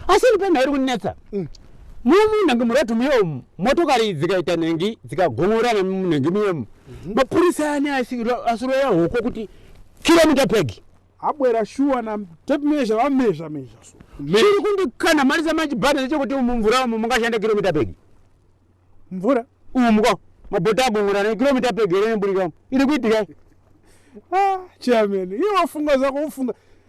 asi ini pemhairi kunetsa mm. mumunhengi muratu muyomu motokari dzikaita nhengi dzikagongorana mumunhengi muyomu mhm. mapurisa ani asiroya hoko kuti kiromita pegi abwera shuwa na tape measure va measure measure so chiri kundikana mari za manji bhanda nechekuti umu mvura umu mungashanda kilomita pegi mvura umu ko mabhota agongora ne kilomita pegi here nemburika umu iri kuitika ah chairman iwe wafunga zako ufunga